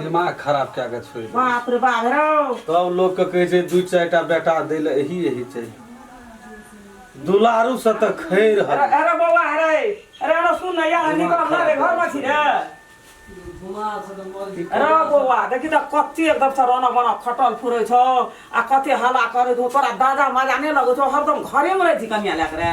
दिमाग खराब कए कऽ छोड़ि देलकै बाप रे बाप रौ तब लोकके कहै छै दू चारि टा बेटा दै लए एही एही चाही दुलारूसँ तऽ खै रहल अरे अरे बौआ अरे अरे अरे सुन ने यार दिमाग निकल ना खराब रे घर में छी रे अरे बौआ देखी तऽ कते एकदम से रोना बना खटल फुरे छौ आ कते हल्ला करे छौ तोरा दादा मजा नहि लगै छौ हरदम घरे में रहै छी कनिया लए के रे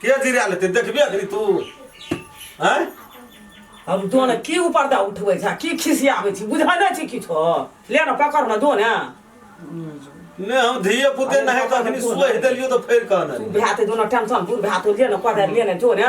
के जिरा लेते देखबे अखनी तू हैं अब दो ने की ऊपर दा उठबै छै की खिसियाबै छी बुझै नै छी किछो ले न पकड़ न दो ने ने हम धिये पुते नहीं तो अखनी सोहि देलियो तो फेर कहना तू भाते दो न टेंशन बुढ़ भातो ले न कदर ले न जो ने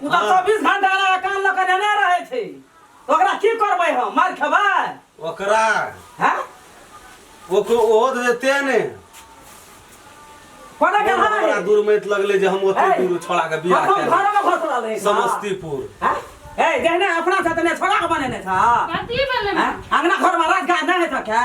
ओ तऽ चौबीस घंटा एना कान लऽ कऽ नेने रहै छै तऽ ओकरा की करबै हम मारि खेबै ओकरा हैं ओको ओहो तऽ जेते ने कोना के बहुत हमरा है दूर मैत लगले जे हम ओते दूर छोड़ा के बियाह हम केलहुँ। घरमे घुस रहल है समस्तीपुर हैं? ए जहने अपना से तने छोड़ा के बनेने था कथी भेलै हैं? अंगना घर में राज गाज नहीं है था क्या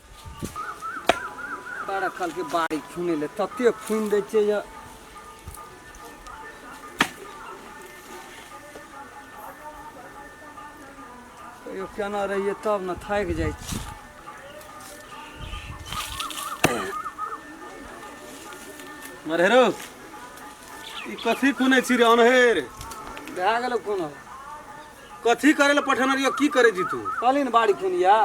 बड़ा कल के बाड़ी खुने ले तते खुन दे छे जे कहियो केना रहिए तब ने थाक जाइ छी मरहेरो ई कथी खुने छी रे अनहेर भए गेलो कोनो कथी करे ले पठेने रहियो की करे जी तू कहली ने बाड़ी खुनिया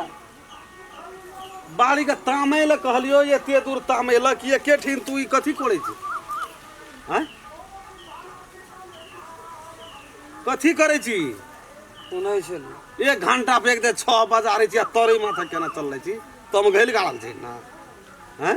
बाड़ी के तामै लए कहलियो जे एते दूर तामै लए कि एके ठिन तू ई कथी करै छी हैं कथी करै छी सुनै छलहुँ एक घंटा पे एक दे छः बजा रही छी आ तोरे माथा केना चल रही छी तुम घैल गाड़ल छी ना हैं